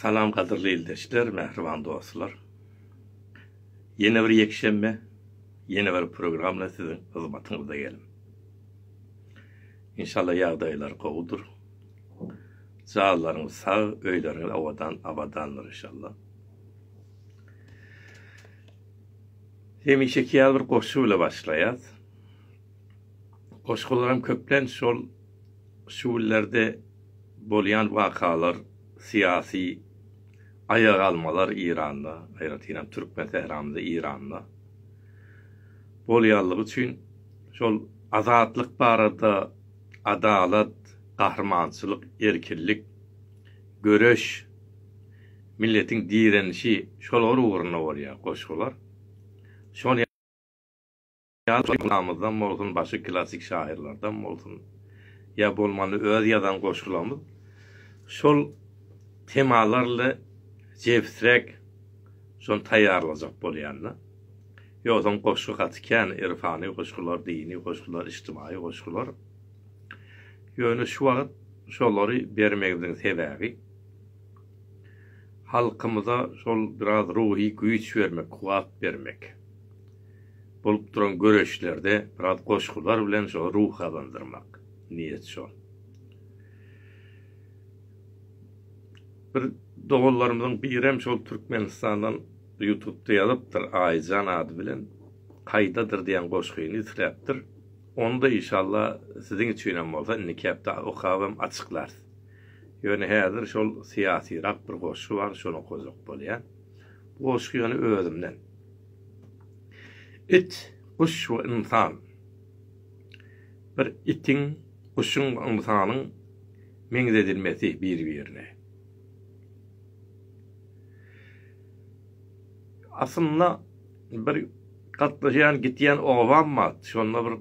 Salam gadyrly ildeşler, mähriban dostlar. Ýene bir ýekşenbe, ýene bir program bilen siziň hyzmatyňyzda geldim. Inşallah ýagdaýlar gowudyr. Janlaryňyz sag, öýleriňiz awadan, abadandyr inşallah. Hemişeki ýaly bir goşgy bilen başlaýas. Goşgularam köplenç şol Şu günlerde bolýan wakalar, syýasy aýagalmalar Eýranda, aýratynam türkmen sähramyzy Eýranda bolýanlygy üçin şol azatlyk barada, adalat, gahrymançylyk, erkinlik, göreş, milletiň direnişi şolar ugrunda bolýar goşgular. Şony. Ýaşlarymyzdan bolsun, başy klassyk şahyrlardan bolsun, ýa bolmanda öz ýazan goşgularymyz şol temalarla jebisräk şony taýýarlajak bolýan-da. Ýogsam goşgy gaty kän, irfany goşgular, dini goşgular, ijtimaýy goşgular. Ýöne şu wagt şolary bermegimiziň sebäbi, halkymyza şol biraz ruhy güýç bermek, kuwwat bermek. bolup duran göreşlerde biraz goşgular bilen şo ruh gazandyrmak. Niýet şo. Bir doganlarymyzyň birem şol Türkmenistandan ýutupda ýazypdyr, Aýyjan ady bilen Kaýdadyr diýen goşgyny isläpdir. Ony-da işalla siziň üçinem bolsa indiki hepde okabam açyklarys. Ýöne häzir şol syýasyrak bir goşgy bar, şony okajak bolýan. Goşgy ýöne özümden. It, guş we ynsan. Bir itiň, guşuň we ynsanyň meňzedilmesi bir-birine. Aslynda bir gatnaşýan, gitýän obam bar. Şonda bir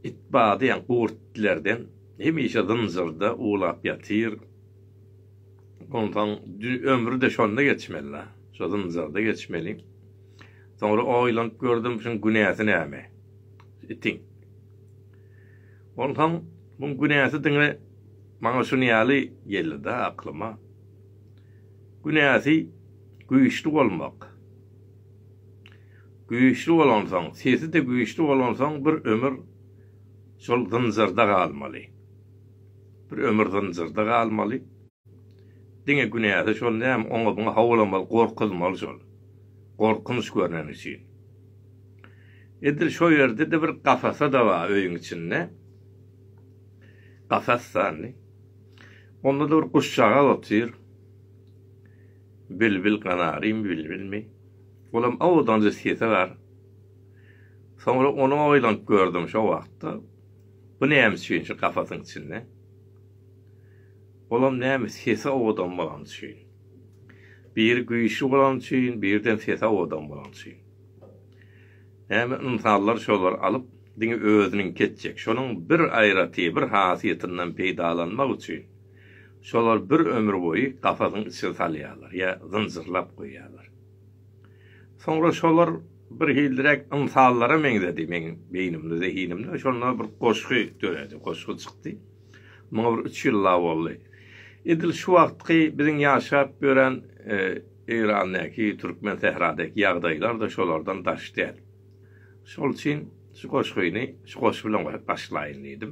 it bardy, ýa gurt itlerden. Hemişe zynjyrda uwlap ýatyr. Onsoň ömri-de şonda geçmeli-la. Şo zynjyrda geçmeli. Soňra oýlanyp gördüm, şuň günäsi näme? Itiň. Onsoň muň günäsi diňe maňa şuny ýaly geldi-de aklyma. Günäsi güýçli bolmak. Güýçli bolansoň, sesi-de güýçli bolansoň bir ömür şol zynjyrda galmaly. Bir ömür zynjyrda galmaly. Diňe günäsi şol näme, oňa-buňa howlamaly, gorkuzmaly şol. Gorkunç görneni üçin. Edil şo ýerde-de bir kafasa-da bar öýüň içinde. Kafas sandy. Onda-da bir guşjagaz otyr. Bilbil, kanarymy, bilbilmi? Olam owadanjy sesi bar. Soňra ony oýlanyp gördüm şo wagtda. Bu näme üçin şu kafasyň içinde? Olam näme sesi owadan bolany üçin. Biri güýçli bolany üçin, birden sesi owadan bolany üçin. Näme ynsanlar şolary alyp, diňe özüniňki etjek. Şonuň bir aýraty, bir hasiýetinden peýdalanmak üçin şolar bir ömür boýy kafasyň içine salýarlar ýa zynjyrlap goýýarlar. Soňra şolar bir hilliräk ynsanlara meňzedi, meň beýnimde, zehinimde şonda bir goşgy döredi, goşgy çykdy. Muňa bir üç ýyllap boldy. Edil şu wagtky biziň ýaşap ýören Eýrandäki, türkmen sähradaky ýagdaýlar-da şolardan daş däl. Şol üçin şu goşgyny şu goşgy bilen başlaýyn diýdim.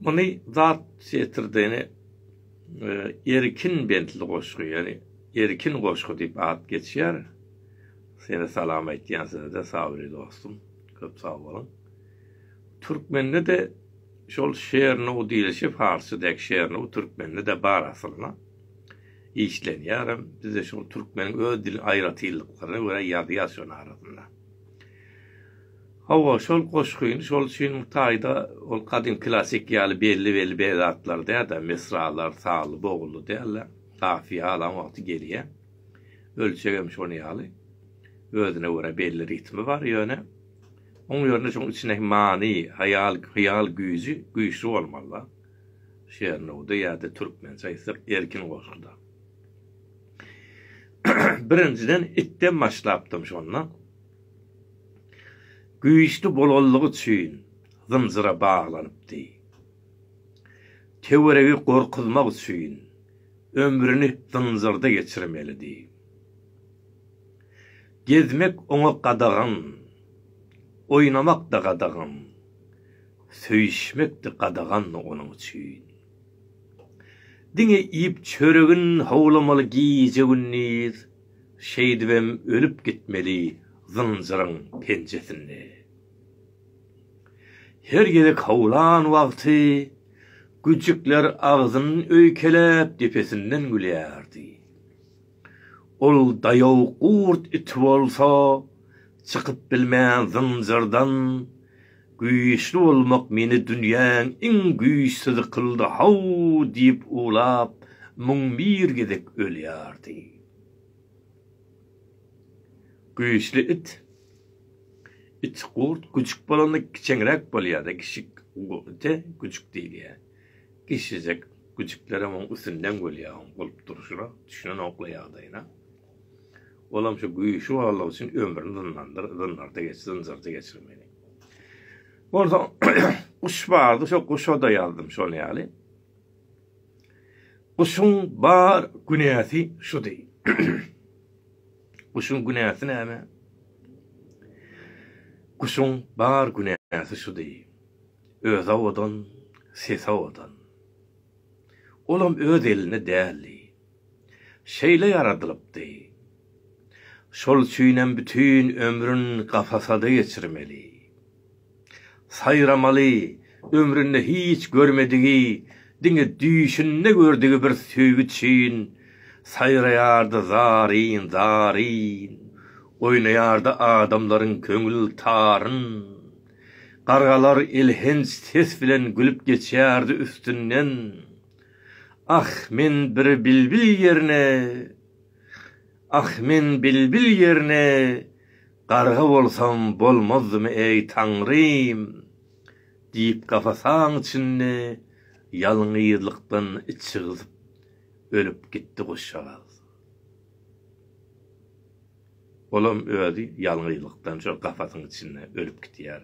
Muny zat setirdeni Erkin bentli goşgy, ýagny Erkin goşgy diýip at geçýär. Seni salam aýtýan size-de Sabri dostum. Köp sag boluň. Türkmende-de şol Şernuw diýlişi farsça dek Şernuw türkmende-de bar aslynda. Işlenýärem. Bizde şol türkmeniň öz diliniň aýratynlyklaryna görä ýazýas şonuň arasynda. Hawa, şol goşgyny şol üçinem taýda ol gadym klassyk ýaly belli-belli bezatlary däl-de, misralar, sazly-bogully däl-de, kafiýa alan wagty gelýär. Ölçeg hem şony ýaly. Özüne görä belli ritmi bar, ýöne oň ýerine şoň içindäki many, haýal, hyýal güýji güýçli bolmaly-da. Şernowda ýa-da türkmençe aýtsak, erkin goşguda. Birinjiden itden başlapdym şonda. Güýçli bolanlygy üçin zynjyra baglanypdy. Töweregi gorkuzmak üçin ömrüni zynjyrda geçirmelidi. Gezmek oňa gadagan, oýnamak-da gadagan, söýüşmek-de gadagandy onuň üçin. Diňe iýip çöregin howlamaly gije-gündiz. Şeýdibem ölüp gitmeli zynjyryň penjesinde. Her gezek howlan wagty güjjükler agzyny öýkeläp depesinden gülýärdi. Ol daýaw gurt iti bolsa çykyp bilmän zynjyrdan Güýçli bolmak meni dünýäň iň güýçsüzi kyldy how diýip uwlap müň bir gezek ölýärdi. Güýçli it it gurt güjük bolanda kiçeňräk bolýada kiçik ite güjük diýilýä. Kiçijek güjüklerem oň üstünden bolýa oň bolup durşuna düşünenokla ýagdaýyna. Olam şu güýçli boldugy üçin ömrüni zyndandyr, zyndarda geç, zynjyrda geçirmeli. Bolsa guş bardy, şo guşa-da ýazdym şol ýaly. Guşuň bar günäsi şudy. Guşuň günäsi näme? Guşuň bar günäsi şudy. Öz awadan, ses awadan. Olam öz elinde däldi. şeýle ýaradylypdy. Şol üçinem bütin ömrün kafasada geçirmeli. Saýramaly, ömründe hiç görmedigi, diňe düýşünde gördügi bir söýgi üçin saýraýardy zaryn, zaryn, oýnaýardy adamlaryň köňül taryn. Gargalar elhenç ses bilen gülüp geçýärdi üstünden. Ah, men bir bilbil ýerine, Ah, men bilbil ýerine garga bolsam bolmazdymy, eý, Taňrym! diýip kafasaň içinde ýalňyzlykdan içi gyzyp ölüp gitdi guşjagaz. Olam özi ýalňyzlykdan şol kafasyň içinde ölüp gitýär.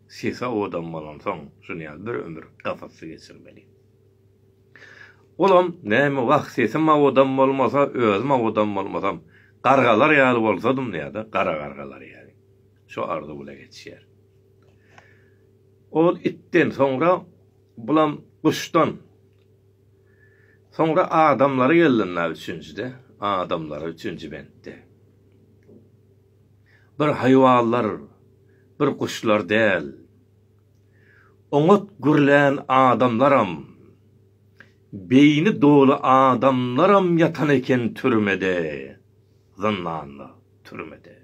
Sisa odam bolansoň, şuny ýaly bir ömür kafasda geçirmeli. Olam, näme, wah, sesim owadan bolmasa, özüm owadan bolmasam, gargalar ýaly bolsadym diýýär-de, gara gargalar ýaly. Şo arzuw bilen ýetişýär. Ol itden, soňra bulam guşdan. Soňra adamlara geldim-la üçünjide, adamlara, üçünji bentde. Bir haýwanlar, bir guşlar däl. Oňat gürlän adamlaram, beýni doly adamlaram ýatan eken türmede, zyndanda, türmede.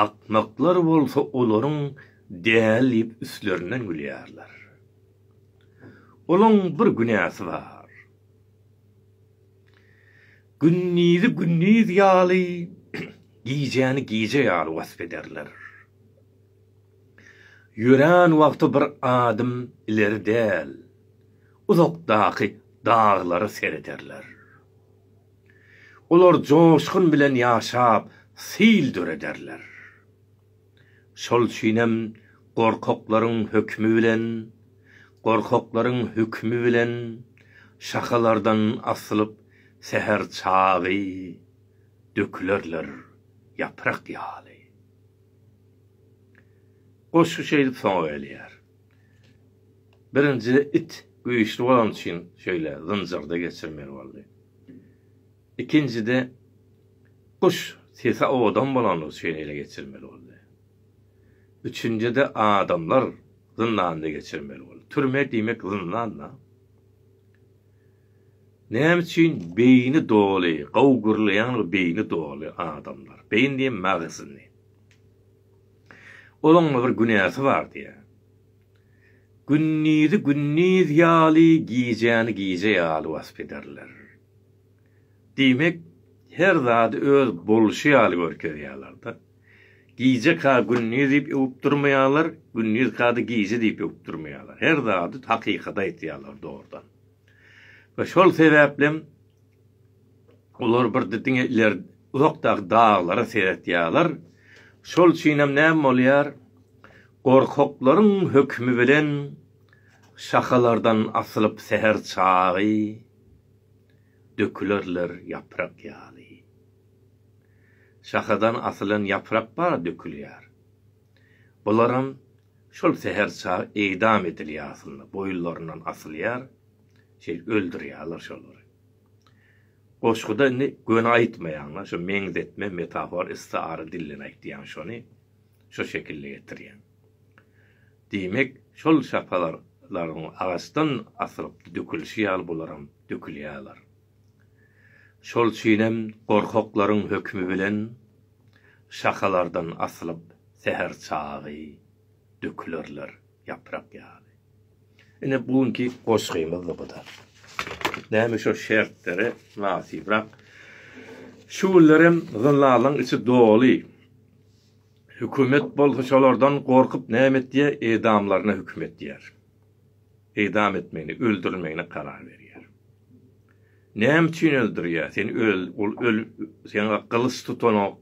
Akmaklar bolsa olaryň däl diýip üstlerinden gülýärler. Olaň bir günäsi bar. Gündizi gündiz ýaly, gijäni gije ýaly wasp ederler. Ýörän wagty bir adym ileri däl, uzakdaky daglara serederler. Olar joşgun bilen ýaşap, sil dörederler. Şol üçinem gorkaklaryň hökmi bilen, gorkaklaryň hükmi bilen şahalardan asylyp säher çagy dökülerler ýaprak ýaly. Goşgy şeýdip soňa gelýär. Birinji it güýçli bolany üçin şeýle zynjyrda geçirmeli boldy. Ikinjide guş sesi owadan bolany üçin ele geçirmeli boldy. Üçünjide adamlar zyndanda geçirmeli boldy. Türme diýmek zyndan-da. Näme üçin beýni doly, gowy gürleýän we beýni doly adamlar, beýin diýen magzyny. Olaňda bir günäsi bar diýýä. Gündizi gündiz ýaly, gijäni gije ýaly wasp ederler. Diýmek, her zady öz bolşy ýaly görkezýärler-de. Gije ka gündiz diýip öwüp durmaýarlar, gündiz ka-da gije diýip öwüp durmaýarlar. Her zady hakykady aýtýarlar dogrudan. we şol sebäplem olar bir diňe iler uzakdaky daglara seretýärler. Şol üçinem näme bolýar? Gorkaklaryň hökümi bilen şahalardan asylyp säher çagy dökülerler ýaprak ýaly. Şahadan asylan ýaprak bar dökülýär. Bularam şol säher çagy idam edilýär aslynda, boýunlaryndan asylýar, şeýdip öldürýärler şolary. Goşguda indi göni aýtmaýan-da, şo meňzetme, metafor, istiara dilden aýtýan şony, şo şekilde getirýän. Diýmek, şol şapalaryň agaçdan asylyp dökülişi ýaly bularam dökülýärler. Şol üçinem gorkaklaryň hökümi bilen şahalardan asylyp säher çagy dökülerler ýaprak ýaly. Ine bu günki goşgymyzdy bu-da. Näme şo şertlere mynasybrak. Şu günlerem zyllalyň içi doly. Hökümet bolsa şolardan gorkup näme etýär, edamlaryna höküm etýär. Idam etmegini, öldürilmegini karar berýär. Näme üçin öldürýär? Sen öl, ol öl, sen gylyç tutanok,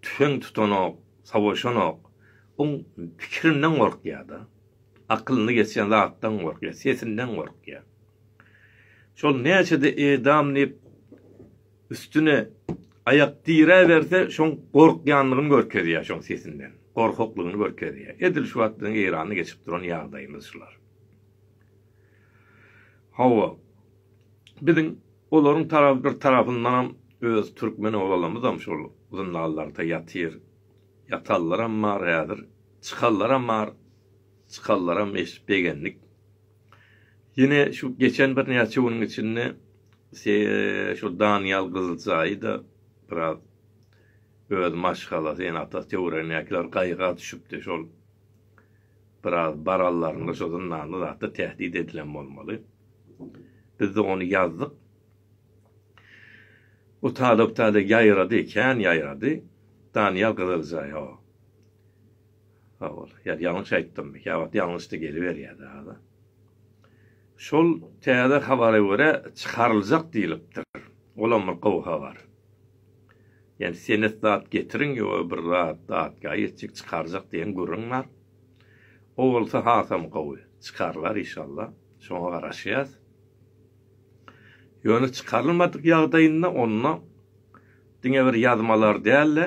tüfeň tutanok, savaşanok. Oň pikirinden gorkýar-da. Akylyny geçen zatdan gorkýar, sesinden gorkýar. Şol näçe-de edam diýip Üstüne aýak diräberse şoň gorkýanlygyny görkezýär şoň sesinden. Gorkaklygyny görkezýär. Edil şu wagt biziň Eýranda geçip duran ýagdaýymyz şular. Hawa. Biziň olaryň tarap bir tarapyndanam öz türkmen oglalymyzam şol zyndanlarda ýatyr. Ýatanlaram bar häzir. Çykanlaram bar. Çykanlaram eşidip begendik. Ýene şu geçen birnäçe günüň içinde şol Danyýal Gyzyljaýy-da biraz öz maşgalasy, ýene atasy töweregindäkiler gaýga düşüpdi. Şol biraz barallarynda şo zyndanda zatda tähdit edilen bolmaly. Biz-de ony ýazdyk. Bu talap-tale ýaýrady, kän ýaýrady. Danyýal Gyzyljaý, hawa. Sag bol. Ýa ýalňyş aýtdymmy? Ýa wagt ýalňyşdy geliberýär dagy. Şol täze habara görä çykaryljak diýlipdir. Olam bir gowy habar. Ýani senet zat getiriň ýa bir zat datga ýetjek çykarjak diýen gürrüň bar. O bolsa hasam gowy. Çykarylar işallah. Şoňa garaşýas. Ýöne çykarylmadyk ýagdaýynda onda diňe bir ýazmalar däl-de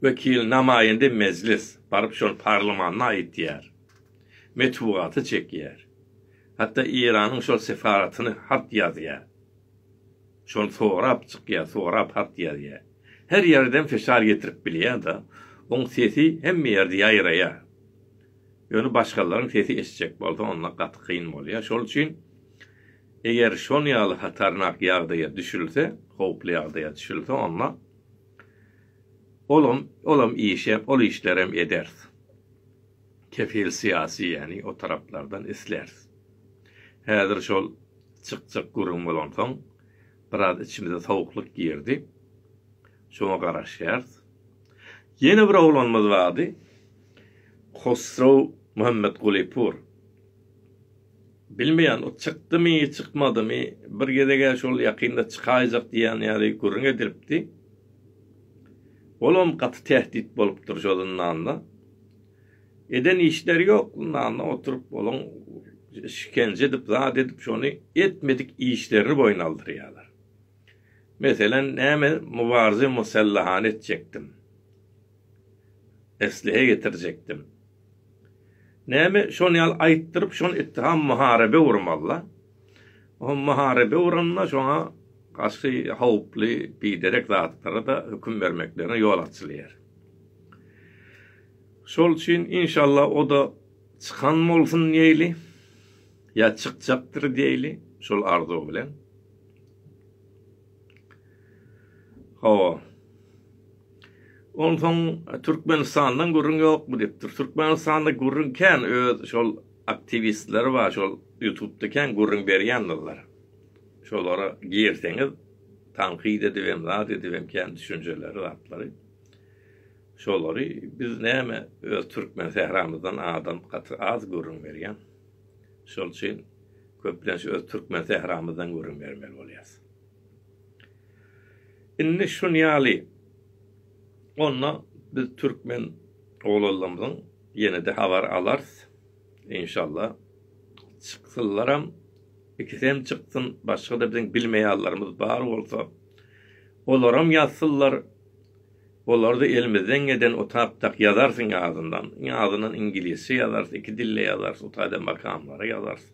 Wekil namaýende mejlis, baryp şol parlamanna aýtýar. Metbugata çekýär. Hatda Eýranyň şol sefaratyny hat ýazýar. Şony sorap çykýar, sorap hat ýazýar. Her ýerden fişar getirip bilýär-de, oň sesi hemme ýerde ýaýraýar. Ýöne başgalaryň sesi eşitjek bolsa onda gaty kyn bolýar. Şol üçin eger şon ýaly hatarnak ýagdaýa düşülse, howply ýagdaýa düşülse onda, Olam, olam işe, ol işlerem ederis. Kefil syýasy ýäni o taraplardan isläris. Häzir şol çykjak gürrüň bolansoň, biraz içimize sowuklyk girdi. Şoňa garaşýarys. Ýene bir oglanymyz bardy. Hosrow Muhammetgulypur. Bilmeýän, ol çykdymy, çykmadymy, bir gezeg-ä şol ýakynda çykaýjak diýýän ýaly gürrüň edilipdi. Olam gaty tähdit bolupdyr şo zyndanda. Eden işleri ýok, zyndanda oturyp olaň işkenje edip, zat edip, şony etmedik işlerini boýun aldyrýarlar. Meselem, näme Mubarze Musellahany etjekdim. Eslihe getirjekdim. Näme şon ýal aýtdyryp şon etdi ha maharebe urmalla. O maharebe uranda şoňa gaşy howply biderek zatlara da höküm bermeklerine ýol açylýar. Şol üçin inşalla o da çykan bolsun diýeli. Ýa çykjakdyr diýeli şol arzuw bilen. Hawa. Onsoň Türkmenistandan gürrüň ýokmy diýipdir. Türkmenistanda gürrüň kän öz şol aktiwistleri bar şol ýutubda kän gürrüň berýändirler. Şolara girseňiz tankyt edip hem zat edip hem kän düşünjeleri zatlary. Şolary biz näme öz türkmen sähramyzdan adam gaty az gürrüň berýän. Şol üçin köplenç öz türkmen sähramyzdan gürrüň bermeli bolýarys. Indi şun ýaly onda biz türkmen oglanlarymyzyň ýene-de habar alarys. Inşalla çyksyllaram, ikisem çyksyn, başga-da biziň bilmeýänlerimiz bar bolsa, olaram ýazsynlar. Olarda elimizden geden otapdak ýazarsyň azyndan. Iň azyndan iňilisçe ýazarys, iki dilde ýazarys, o taýda makamlary ýazarys.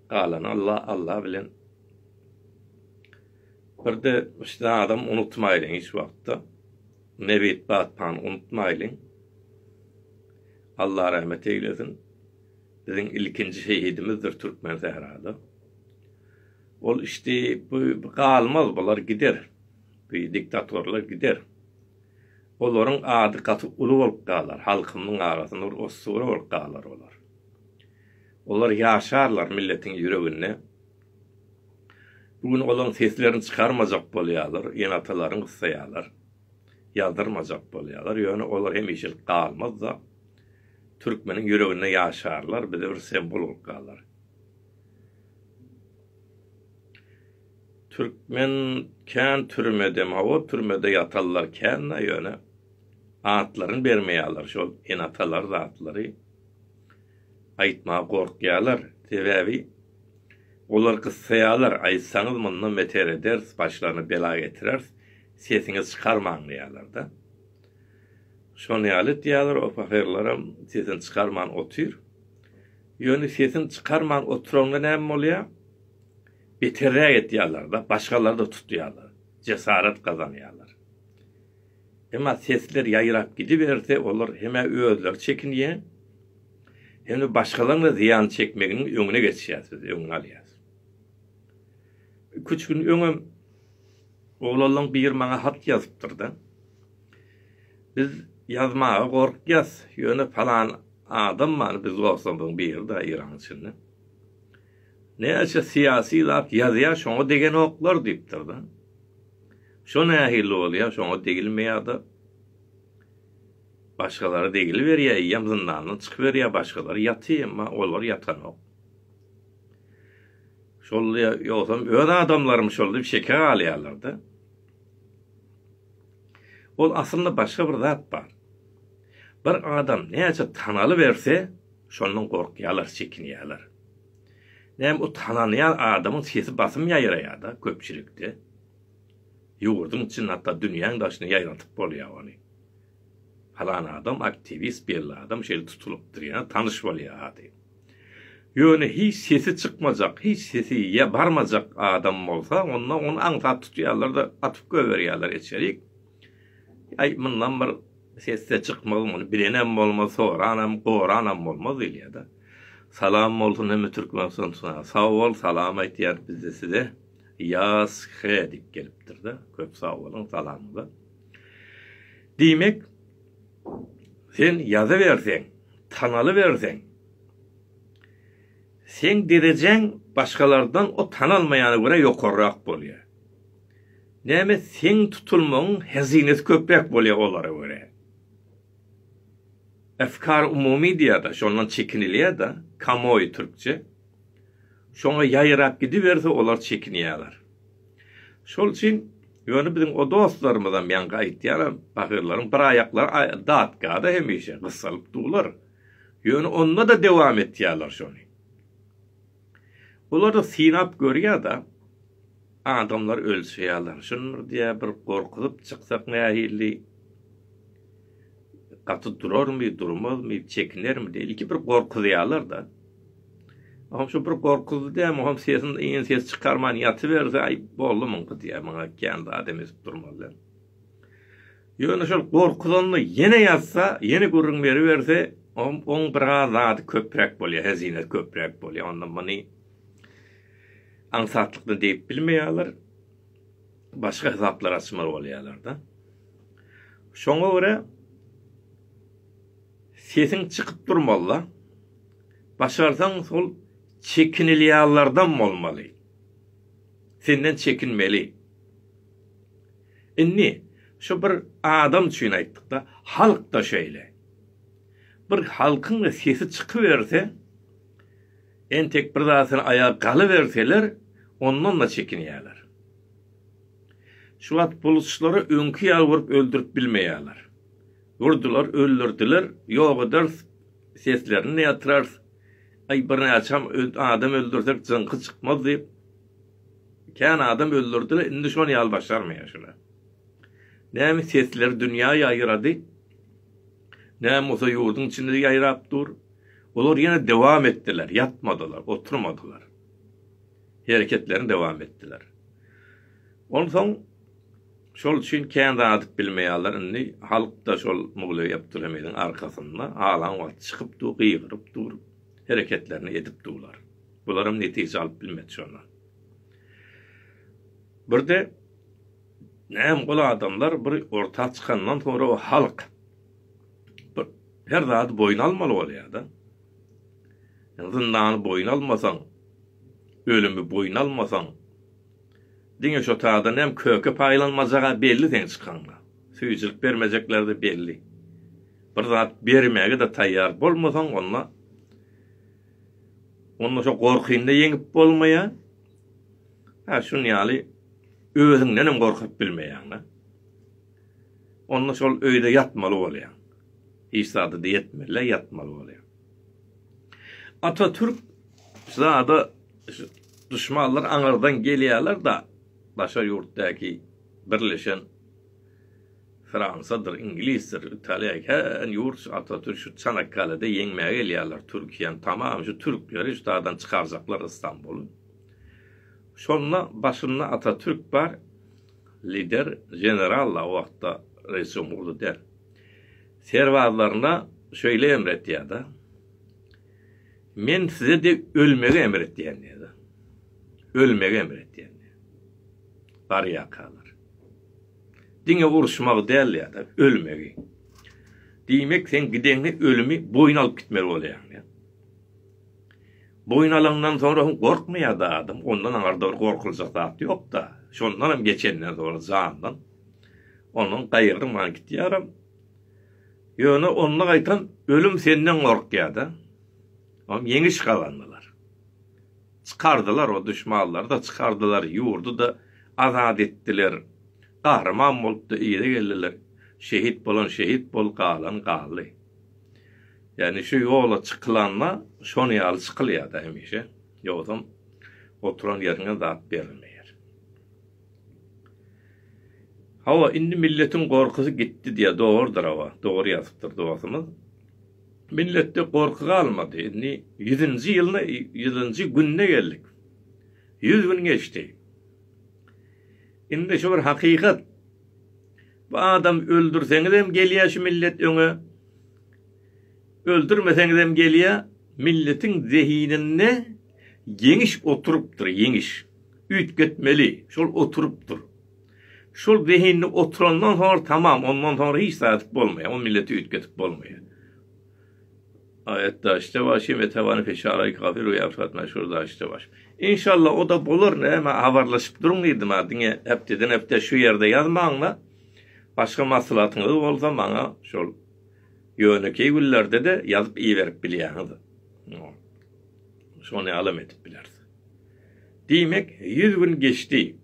Galany Alla, Alla bilen. Bir-de şu zadam unutmaýlyň hiç wagtda. Nebit batpany unutmaýlyň. Alla rahmet eýlesin. Biziň ilkinji şehidimizdir Türkmen sährada. Ol işdi, bu galmaz, bular gider. Bu diktatorlar gider. Olaryň ady gaty uly bolup galar, halkymyň arasynda bir ossura bolup galar olar. Olar ýaşarlar milletiň ýüreginde. Bu gün olaryň seslerini çykarmajak bolýarlar, ene-atalaryny gyssaýarlar. Ýazdyrmajak bolýarlar, ýöne olar hemişelik galmaz-da, türkmeniň ýüreginde ýaşarlar, bize bir sembol bolup galar. Türkmen kän türmede hawa türmede ýatallar kända ýöne atlaryny bermeýäler şol ene atalar zatlary aýtmaga gorkýalar sebäbi olar gyssaýalar aýtsaňyz mundan beter ederis başlaryna bela getireris sesiňizi çykarmaň diýälerda şon ýaly diýäler o pahyrlaram sesini çykarman otyr ýöne sesini çykarman oturanda näme bolýa Beterräk etýärler-de, başgalary da tutýarlar, jesaret gazanýarlar. Emma sesler ýaýrap gidiberse, olar hem-ä özleri çekinýär, hem-de başgalaryň-da zyýan çekmeginiň öňüne geçýär, siz öňüni alýarsyňyz. Iki-üç gün öňem oglanlaryň biri maňa hat ýazypdyr-da, Biz ýazmaga gorkýas, ýöne palan adam bar, biz dostlarymyzyň biri-de Eýranyň içinde. Näçe syýasy zat ýazýar şoňa degenoklar diýipdir-de. Şo nähili bolýar şoňa degilmeýärde. Başgalara degiliberýär eýýäm zyndandan çykyberýär başgalar ýaty emma olar ýatanok. Şol ýogsam öz adamlarym şol diýip şeke galýarlar-da. Ol aslynda başga bir zat bar. Bir adam näçe tanaly berse, şondan gorkýarlar, çekinýärler. Näme o tanalýan adamyň sesi basym ýaýraýar-da köpçülikde. Ýurduň içinde hatda dünýäň daşyna ýaýradyp bolýar ony. Falan adam aktiwist, belli adam şeýle tutulypdyr ýa tanyş bolýar ady. Ýöne hiç sesi çykmajak, hiç sesi ýa barmajak adam bolsa, onda ony aňsat tutýarlar-da atyp goýberýärler içerik. Aý, mundan bir ses-de çykmaz, muny bilenem bolmaz, soranam, goranam bolmaz diýilýär-de. Salam bolsun hemme Türkmenistana. Sag bol, salam aýtýarys biz-de size. Ýas he diýip gelipdir-de. Köp sag boluň salamyňyza. Diýmek, sen ýazyberseň, tanalyberseň, seň derejeň başgalardan o tanalmaýana görä ýokarrak bolýar. Näme seň tutulmagyň hezinesi köpräk bolýa olara görä. Efkar umumy diýada şondan çekinilýäda kamoý türkçe. Şoňa ýaýrap gidiberse olar çekinýäler. Şol üçin ýöne biziň o dostlarymyzam ýaňky aýtýanam bahyrlaryň bir aýaklary datkada hemişe gysalyp dular. Ýöne onda-da dowam etýäler şony. Olar-da synap görýär-de, adamlar ölse ýalanşyndyr diýýär, bir gorkuzyp çyksak nähili, gaty durarmy, durmazmy, çekinermi diýip, ilki bir gorkuzýarlar-da. Olam şu bir gorkuzdy dämi, olam sesini, yny sesi çykarman ýatyberse, aý, boldy muňky diýýär, muňa kän zat hem edip durmazlar. Ýöne şol gorkuzanyny ýene ýazsa, ýene gürrüň beriberse, oň biraz zady köpräk bolýar, hezinesi köpräk bolýar. Onda muny aňsatlykda diýip bilmeýärler. Başga hasaplar açmaly bolýarlar-da. Şoňa görä sesiň çykyp durmaly-da. Başarsaň şol çekinilýärlerden bolmaly. Senden çekinmeli. Indi şu bir adam üçin aýtdykda, halk-da şeýle. Bir halkyň sesi çykyberse, entek bir zatdan aýak galyberseler, ondan-da çekinýärler. Şu wagt buluçlary öňki ýaly urup öldürip bilmeýärler. Urdular, öldürdiler, ýok ederis, seslerini-de ýatyrarys. Aý, birnäçem adam öldürsek, jyňky çykmaz diýip. Kän adam öldürdiler indi şony ýaly başarmaýar şular. Näme sesler dünýä ýaýrady. Näme bolsa ýurduň içinde ýaýrap dur. Olar ýene dowam etdiler, ýatmadylar, oturmadylar. Hereketlerini dowam etdiler. Onsoň şol üçin kän zady bilmeýärler indi halkda şol Mugley Abdulhamidin arkasynda alan wagty çykyp dur, gygyryp dur, hereketlerini edip durlar. Bularam netije alyp bilmedi şondan. Birde näm ol adamlar bir orta çykandan sonra o halk her zady boýun almaly bolýar-da. Zyndany boýun almasaň, ölümi boýun almasaň, diňe şo taýdan hem köke paýlanmajak-a belli seň çykanyňda. Süýjülik bermejekler-de belli. Bir zat bermäge-de taýýar bolmasaň, onda Onda şo gorkyny-da ýeňip bolmaýar. Hä, şuny ýaly özüňdenem gorkup bilmeýäň-de. Onda şol öýde ýatmaly bolýaň. Hiç zada-da ýetmeli, ýatmaly bolýaň. Atatürk zada duşmanlar aňyrdan gelýärler-de, daşary ýurtdaky birleşen Fransadyr, iňlisdir, italiýa kän ýurt şu Atatürk şu Çanakkalede ýeňmäge gelýärler Türkiýäni tamam şu türkleri şdadan çykarjaklar Istanbuly. Şonda başynda Atatürk bar lider generalla o wagtda reis jumhurda däl. Serbazlaryna şöýle emr etýärda. Men size de ölmegi emr etýän diýärdi. Ölmegi emr etýän. Barýakalar. Diňe uruşmagy däl ýa-da ölmegi. Diýmek, sen gideňde ölümi boýun alyp gitmeli bolýaň. Boýun alandan soň hem gorkmaýar-da adam. Ondan aňyrda bir gorkuljak zat ýok-da. Şondan hem geçenden soň jandan onuň gaýgyrman gitýärem. Ýöne onda gaýtam ölüm senden gorkýar-da. Ýeňiş gazandylar. Çykardylar o duşmanlary-da çykardylar, ýurdy-da azat etdiler. Gahryman bolup-da yza geldiler. Şehit bolan şehit bol, galan galdy. Ýagny şu ýola çykylanda şonuň ýaly çykylýar-da hemişe. Ýogsam oturan ýeriňe zat berilmeýär. Hawa indi milletiň gorkusy gitdi diýýär dogrudyr hawa dogry ýazypdyr dostumyz. Milletde gorky galmady indi ýüzünji ýylyna ýüzünji gününe geldik. Ýüz gün geçdi. Indi şu bir hakykat bu adam öldürseňizem gelýär şu millet öňe öldürmeseňizem gelýär milletiň zehininde ýeňiş oturypdyr ýeňiş. Üýtgetmeli, şol oturypdyr. Şol zehinli oturandan soňra tamam, ondan soňra hiç zat edip bolmaýar, o milleti üýtgedip bolmaýar. Aýatdaşda bar şem etewany feşaray kafir we ýafşat meşhur daşda bar. Inşallah o-da bolar, näme habarlaşyp duruň diýdim-ä, diňe hepdeden-hepde şu ýerde ýazmaň-da, başga maslahatyňyz bolsa maňa şol ýönekeý günlerde-de ýazyp iberip bilýäňiz. Şony alam edip bileris. Diýmek, ýüz gün geçdi.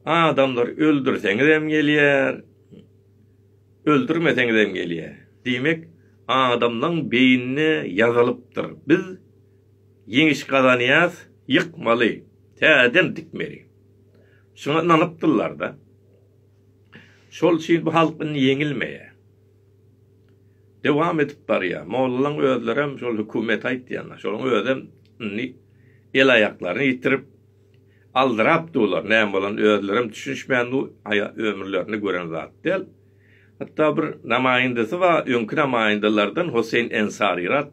Adamlar öldürseňizem gelýär, öldürmeseňizem gelýär. Diýmek, adamlaň beýnine ýazylypdyr. Biz ýeňiş gazanýas, ýykmaly, täzeden dikmeli. Şuňa ynanypdyrlar-da. Şol üçin bu halk indi ýeňilmeýär. dowam edip barýar. Mollalaň özlerem şol hökümete aýtýanlar. Şolaň özem indi el-aýaklaryny ýitirip, aldyrap durlar. Näme bolanyny özlerem düşünişmän dur, aýa ömürlerinde gören zat däl. Hatda bir namaýyndasy bar, öňki namaýyndalardan Hoseýn Ensaryrat.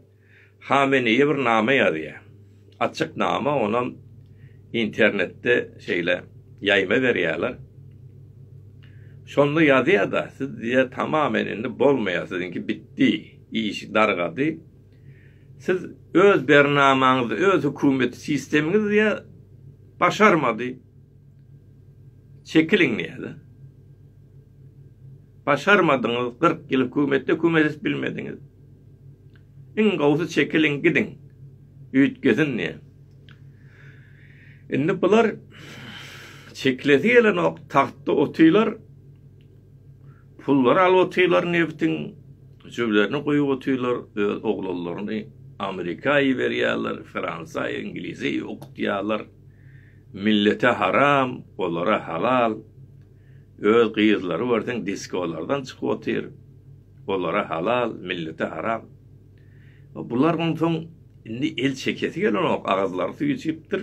Hameneýe bir name ýazýar. Açyk name, onam internetde şeýle ýaýma berýärler. Şonda ýazýar-da, siz diýýär, tamamen indi bolmaýar, siziňki bitdi, işi dargady. Siz öz bernamaňyzy, öz hökümet sistemiňizi diýýär, başarmady. Çekiliň diýýär-de. Başarmadyňyz, kyrk ýyl hökümetde hökümet edip bilmediňiz. Iň gowsy çekiliň gidiň. Üýtgesin diýe. Indi bular çeklesi gelenok tagtda otylar. Pullary alyp otylar nebtiň jüblerini guýup otylar öz oglanlaryny Amerika iberýärler Fransa Inglize okutýarlar. Millete haram olara halal. Öz gyzlary görseň diskolardan çykyp otyr. Olara halal, millete haram. Bular onsoň indi el çekesi gelenok, agyzlary suw içipdir.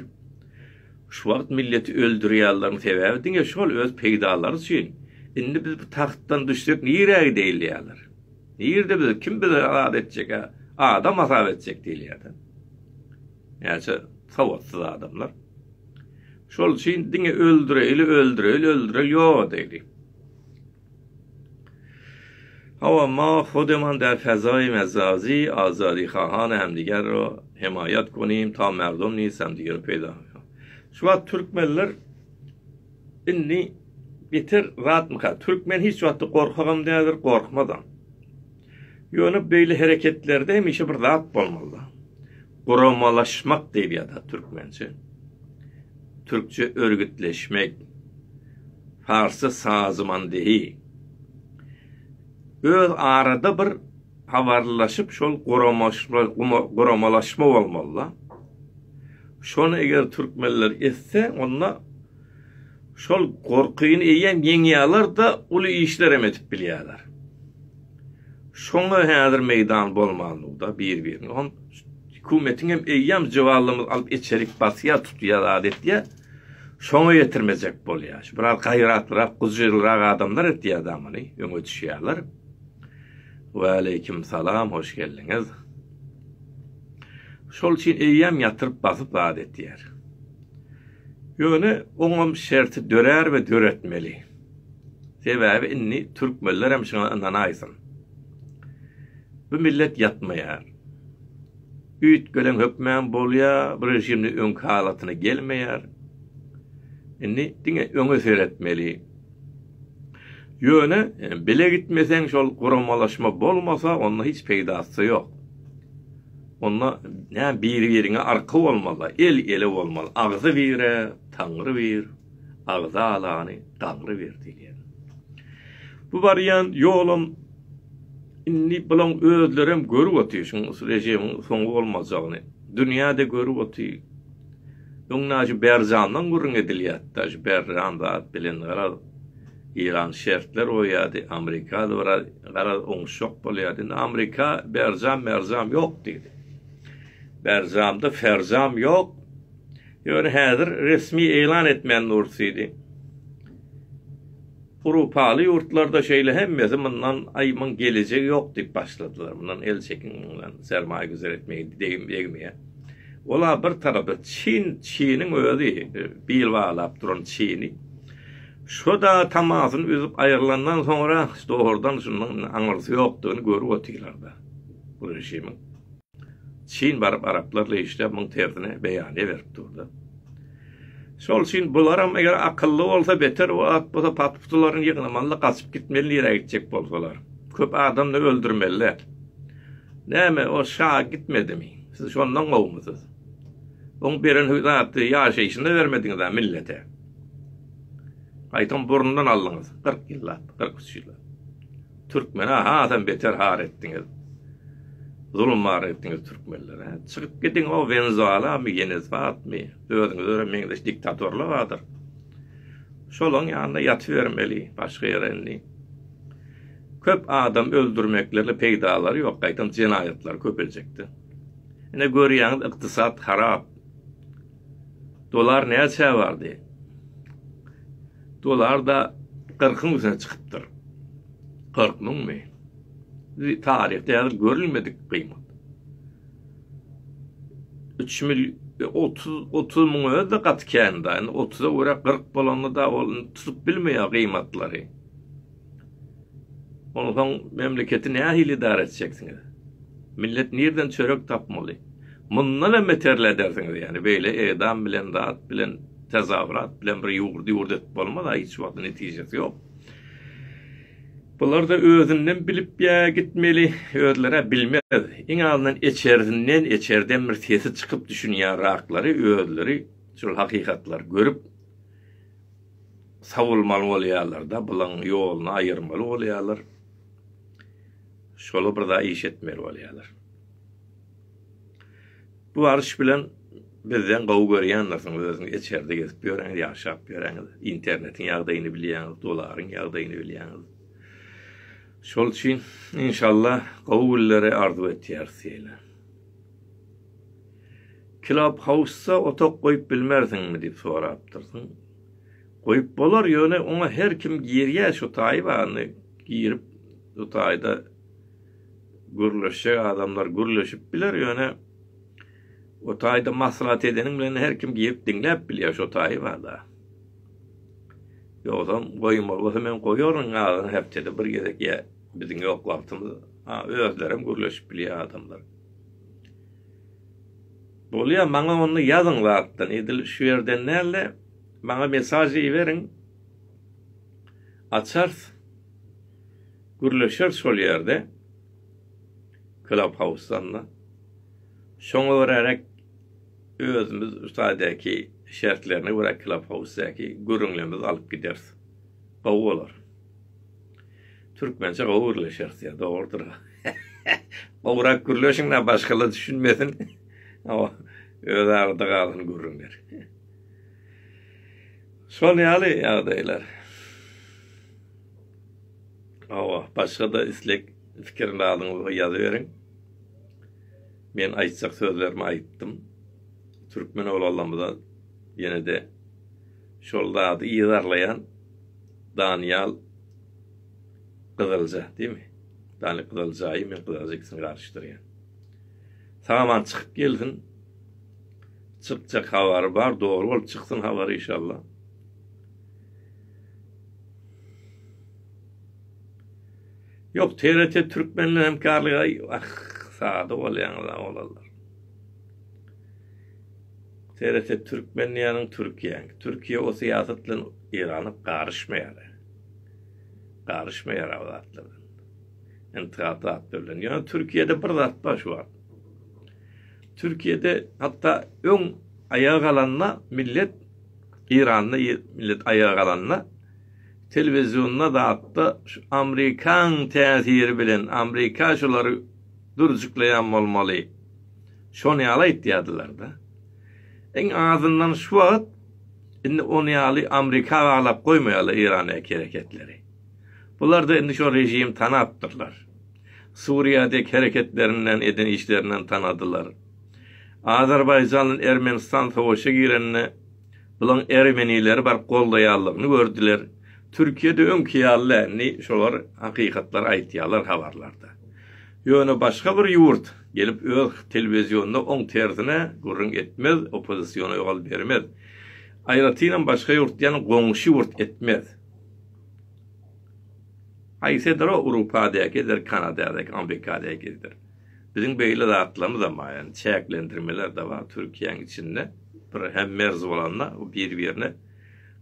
Şu wagt milleti öldürýärleriň sebäbi diňe şol öz peýdalary üçin. Indi biz bu tagtdan düşsek nirä gideýin diýýärler. Nirde biz, kim bizi azat etjek-ä? Adam hasap etjek diýilýär-de. Näçe sowatsyz adamlar. Şol üçin diňe öldüreýli, öldüreýli, öldüreýli, ýok edeýli. Hawa, ma hodeman der fezaýi mezazi, azadi hahan hem diger ro, hemaýat konim ta merdom niz hem diger peýda hakan. Şu wagt türkmenler indi beter zatmyka? Türkmen hiç wagtda gorkagam däldir, gorkmazam. Ýöne beýle hereketlerde hemişe bir zat bolmaly-da. Guramalaşmak diýip ýazar türkmençe. Türkçe örgütleşmek. Parsça sazmandehi. Öz arada bir habarlaşyp şol guramalaşma bolmaly-da. Şony eger türkmenler etse onda Şol gorkyny eýýäm ýeňýärler-de, uly işlerem edip bilýärler. Şoňa häzir meýdan bolmandygyda bir-birini hom hükumetiňem eýýäm jywallamyz alyp içerik basýar, tutýar, zat etýär. Şoňa ýetirmejek bolýar. Şu biraz gaýratlyrak, gujyrlyrak adamlar etýär da muny, öňe düşýärler. Waleýkim salam, hoş geldiňiz. Şol üçin eýýäm ýatyryp basyp zat etýär. Ýöne oňam şerti dörär we döretmeli. Sebäbi indi türkmenlerem şuňa ynanaýsyn. Bu millet ýatmaýar. Üýtgelen hökmem bolýar, bu režimde öňki halatyna gelmeýär. Indi diňe öňe seretmeli. Ýöne bile gitmeseň şol guramalaşma bolmasa onda hiç peýdasy ýok. Onda näme biri biriňe arka bolmaly, el ele bolmaly. Agzy bire Taňry bir, agzy alany gaňry bir diýilýär. Bu barýan ýolam indi bulaň özlerem görüp otyr şuň rejimiň soňy bolmajagyny. Dünýä-de görüp otyr. Öňde Ažyberjandan gürrüň edilýärdi. Ažyberjan zat bilen garaz, Eýran şertler goýýardy, Amrika biraz garaz oňuşjak bolýardy. Indi Amrika Berjam, Merjam ýok diýdi. Berjamda Ferjam ýok. Ýöne häzir resmi eglan etmän durus diýdi. Urupaly ýurtlarda şeýle hemmesi mundan aý muň gelejegi ýok diýip başladylar mundan el çekiň mundan sermaýa güzer etmegi degim degmeýä ol a bir tarapda çyn çynyň özi bil baglap duran çyny şo da tamasyny üzüp aýrylandan soňra doğrudan şundan aňyrsy ýokdygyny görüp otyrlar da bu režimiň. Çyn baryp araplarla işläp muň tersine beýaniýe berip durda. Şol üçin bularam eger akylly bolsa beter o at bolsa pat putularyny ýygnamalyda gaçyp gitmeli nirä gitjek bolsalar. Köp adamny öldürmeliler. Näme o şa gitmedimi? Siz şondan gowumysyz? Oň beren hü zaty ýaşaýşyna bermediňizä millete. Gaýtam burnundan aldyňyz. Kyrk ýyllap, kyrk üç ýyllap. Türkmene hasam beter har etdiňiz. Zulum bar etdiňiz türkmenlere. Çykyp gidiň o Wenzualamy, Yenezwatmy, özüňiz öre meňzeş diktatorlar bardyr. Şolaň ýanynda ýatybermeli, başga ýere indi. Köp adam öldürmeklerle peýdalary ýok, gaýtam jenaýatlar köpeljekdi. Ine görýäňiz ykdysat harap. Dolar näçä bardy? Dolar-da kyrkyň üstüne çykypdyr. Kyrk müňmi? Taryhda ýazylyp görülmedik gymmat. Üç mil, otuz, otuz müň özi gaty kän-da. Indi otuza görä kyrk bolanda-da ol tutup bilmeýär gymmatlary. Onsoň memleketi nähili idara etjeksiňiz? Millet nirden çörek tapmaly? Mundan hem beterile edersiňiz ýani beýle edam bilen zat bilen tezawurat bilen bir ýurdy ýurt edip bolmaz a hiç wagt netijesi ýok. Bularda özünden bilip ýa gitmeli özleri a bilmez iň azyndan eçersinden eçerden bir sesi çykyp düşünýän raklary özleri şul hakykatlary görüp sowulmaly bolýarlar-da, bulaň ýoluny aýyrmaly bolýarlar. Şola bir zat iş etmeli bolýarlar. Bu arş bilen bizden gowy görýändirsiň, özüň içerde gezip ýöräňiz, ýaşap ýöräňiz, internetiň ýagdaýyny bilýäňiz, dolaryň ýagdaýyny bilýäňiz. Şol üçin, inşallah, gowy günleri arzuw etýäris size. Clubhouse-a otak goýup bilmersiňmi diýip sorapdyrsyň. Goýup bolar, ýöne oňa her kim girýär, şu taýy barmy, girip bu taýda gürleşjek adamlar gürleşip biler, ýöne o taýda maslahat edeniň bilen her kim girip diňläp bilýär, şo taýy bar-da. Ýogsam goýmaly bolsa men goýaryn azyny hepdede bir gezek ýa biziň ýok wagtymyz, a özlerem gürleşip bilýär adamlar. Bolýa maňa onda ýazyň zatdan edil şu ýerden dälde maňa mesaj iberiň açars gürleşers şol ýerde club house-danda şoňa görärek özümiz ştaýdaky şertlerine görä club house-däki gürrüňlemizi alyp gideris gowy bolar. Türkmençe gowy gürleşeris ya dogrudyr. Gowrak gürleşiň da başgalar düşünmesin. Awa öz arada galan gürrüňler. Şol ýaly ýagdaýlar. Awa başga da istek fikirni alyňyz ýazyberiň. Men aýtjak sözlerimi aýtdym. Türkmen oglanlarymyza ýene-de şol zady ýazarlaýan Danyýal Gyzylja, diými? Danyýal Gyzyljaýy men Gyzylja ikisini garyşdyrýan. Saman çykyp gelsin. Çykjak habary bar, dogry bolup çyksyn habary inşallah. Yok TRT Türkmenle hemkarlyga ah sada bolýaňyz oglanlar. Seretse türkmen diýýäniň türkiýäň. Türkiýe o syýasat bilen Eýrana garyşmaýar. Garyşmaýar o zatlar bilen. Intihap zatlar bilen. Ýöne türkiýede bir zat bar şu wagt. Türkiýede hatda öň aýaga galanda millet Eýranda millet aýaga galanda telewizionda zatda şu amerikan täsiri bilen amerika şulary durjuklaýan bolmaly. Şony ýaly aýtýardylar-da. Iň azyndan şu wagt indi ony ýaly Amrika baglap goýmaýarlar Irandäki hereketleri. Bular-da indi şo režimi tanapdyrlar. Suriýadäki hereketlerinden, eden işlerinden tanadylar. Azerbaýjan bilen Ermenistan sowaşa girende bulaň ermenileri baryp goldaýanlygyny gördüler. Türkiýede öňki ýaly dälni şolar hakykatlar aýtýarlar habarlarda. Ýöne başga bir ýurt gelip öz telewizionynda oň tersine gürrüň etmez, oppozisiona ýol bermez. Aýratynam başga ýurt diýen goňşy ýurt etmez. Haýsy eder o Urupadäki eder Kanadadäki Amrikadäki eder. Biziň beýle zatlarymyzam bar ýani çäklendirmeler de bar Türkiýäň içinde bir hem merz bolanda bir birine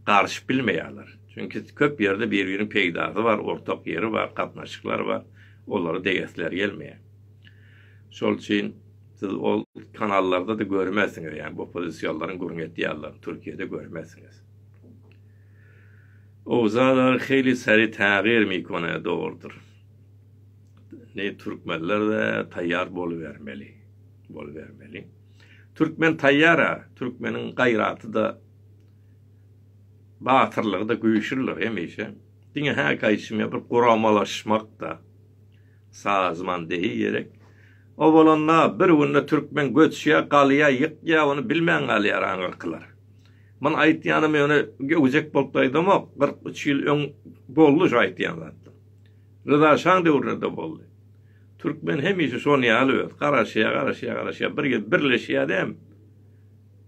garşyp bilmeýärler. Çünki köp ýerde bir biriniň peýdasy bar ortak ýeri bar gatnaşyklar bar. olara degesleri gelmeýär. Şol üçin siz ol kanallarda-da görmezsiňiz, ýagny bu pozisiýalaryň gürrüň edýärler, Türkiýede görmezsiňiz. Owzalar hili seri tagyr mikona dogrudyr. Ne türkmenler de taýýar bolubermeli, bolubermeli. Türkmen taýýara, türkmeniň gaýraty da batyrlygy da güýçlüdir hemişe. Diňe häkaýşymýa bir guramalaşmak-da, sazmandehi gerek. O bolanda, bir günde türkmen göçýär, galýar, ýykýar, ony bilmän galýar aňyrkylar. Muny aýtýanym ýöne göwjek bolup-da aýdamok, kyrk üç ýyl öň boldy şu aýtýan zatym. Ryza şaň döwründe-de boldy. Türkmen hemişe şonuň ýaly öz, garaşýar, garaşýar, garaşýar, bir gez birleşýär-de hem.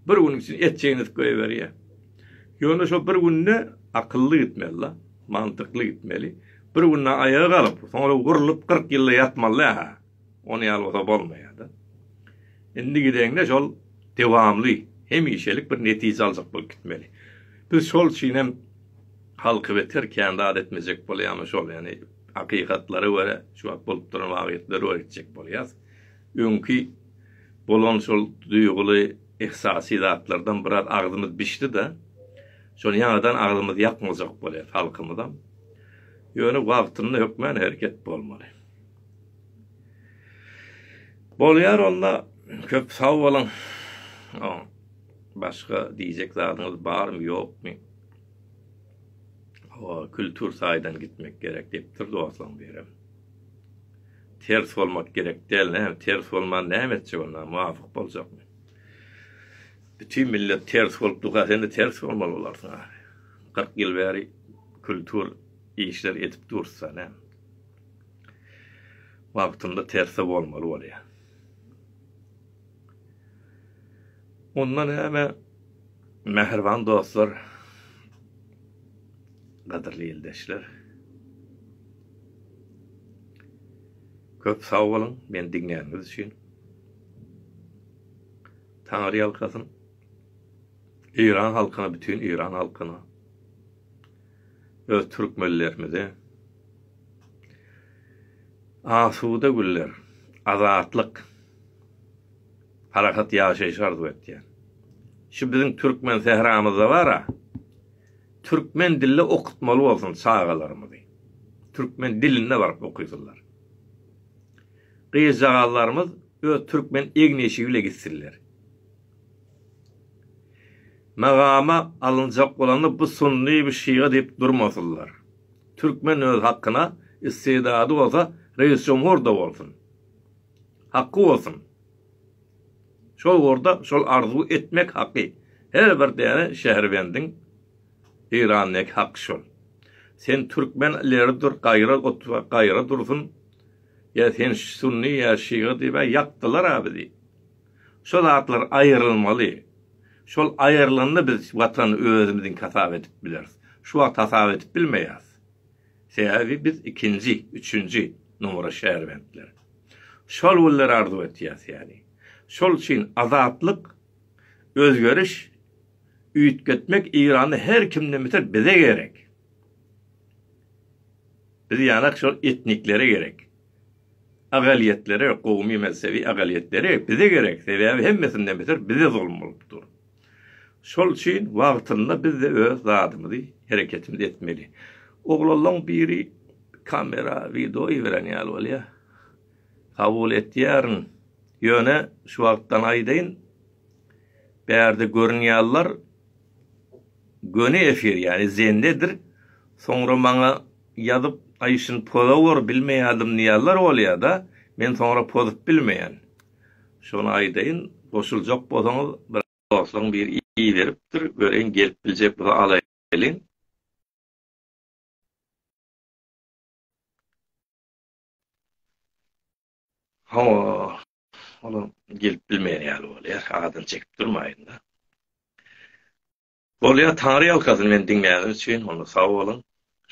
Bir gün içinde et çeýnedip goýberýär. Ýöne şo bir günde akylly gitmeli-la, mantykly gitmeli. Bir günde aýaga galyp, soňra gurlup kyrk ýylda ýatmaly-da, hä? Ony ýaly bolsa bolmaýar-da. Indi gideňde şol dowamly, hemişelik bir netije aljak bolup gitmeli. Biz şol üçin hem halky beter kän zat etmejek bolýarmyş ol, ýagny hakykatlara görä, şu wagt bolup duran wagýatlary öwretjek bolýarys. Öňki bolan şol duýguly, yhsasy zatlardan biraz agzymyz bişdi-de, şony ýaňadan agzymyzy ýakmajak bolýas halkymyzam. Ýöne wagtynda hökmän hereket bolmaly. Bolýar onda, köp sag boluň. Başga diýjek zadyňyz barmy, ýokmy? Hawa, kültur taýdan gitmek gerek diýipdir dostlaň birem. Ters bolmak gerek däl, näme ters bolman näme etjek onda, muwafyk boljakmy? Bütin millet ters bolup durka, sen-de ters bolmaly bolarsyň ahy. 40 ýyl bäri kultur işler edip dursa, näme? Wagtynda terse bolmaly bolýar. Onda näme? Mähriban dostlar, gadyrly ildeşler. Köp sag boluň meni diňläniňiz üçin. Taňry ýalkasyn. Eýran halkyna bütin Eýran halkyna. Öz türkmenlerimize. Asuda günler. Azatlyk. Parahat ýaşaýyş arzuw etýän. Şu biziň türkmen sähramyzda bara. Türkmen dilli okutmaly bolsun çagalarymyzy. Türkmen dilinde baryp okysynlar. Gyzjagazlarymyz öz türkmen egneşigi bile gitsinler. Magama alynjak bolanda bu sunny bu şiga diýip durmasynlar. Türkmen öz hakyna istedady bolsa reis jomhur da bolsun. Haky bolsun. Şol ugurda şol arzuw etmek haky her bir däne şäherbendiň Eýrandaky haky şol. Sen türkmen ileri dur gaýra otur gaýra dursun ýa sen sunny ýa şyga diýibä ýakdylar a bizi. Şo zatlar aýrylmaly. Şol aýrylanda biz watany özümiziňki hasap edip bileris. Şu wagt hasap edip bilmeýäs. Sebäbi biz ikinji, üçünji nomera şärbentler. Şol günleri arzuw etýäs ýaly. Şol üçin azatlyk, özgeriş, üýtgetmek Eýranda her kimden beter bize gerek. Biz ýanak şol etniklere gerek. Agalyýetlere, gowumy-mezhebi agalyýetlere bize gerek, sebäbi hemmesinden beter bize zulum bolup dur. Şol üçin wagtynda biz-de öz zadymyzy, hereketimizi etmeli. Oglanlaň biri kamera wideo iberen ýaly bolýa. Kabul etýärin. Ýöne şu wagtdan aýdaýyn, bärde görünýärler göni efir ýany zendedir. Soňra maňa ýazyp Aýşin poza gör bilmeýärdim diýýärler bolýada. Men soňra pozup bilmeýän. Şony aýdaýyn goşuljak bolsaňyz bir dostlaň biri iberipdir göreýin gelip biljek bolsa alaýlyň. Hawa olam gelip bilmeýän ýaly bolýar adyny çekip durmaýynda. Bolýar taňry ýalkasyn meni diňläniňiz üçin onda sag boluň.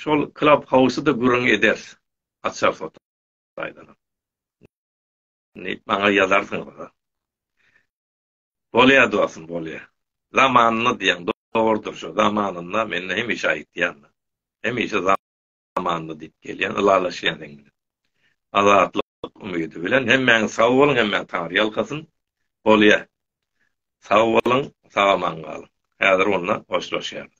Şol klap howsy-da gürrüň ederis açarys otagdan. Diýip maňa ýazarsyňyz. Bolýar dostum, bolýar. Zamanynda diýen dogrudyr şu. Zamanynda men hemişe aýtýan. Hemişe zamanynda diýip gelýän, ylalaşýan sen bilen. Azatlyk umydy bilen hemmäňiz sag boluň, hemmäňiz taňry ýalkasyn. Bolýar. Sag boluň, sag-aman galyň. Häzir onda hoşlaşýarys.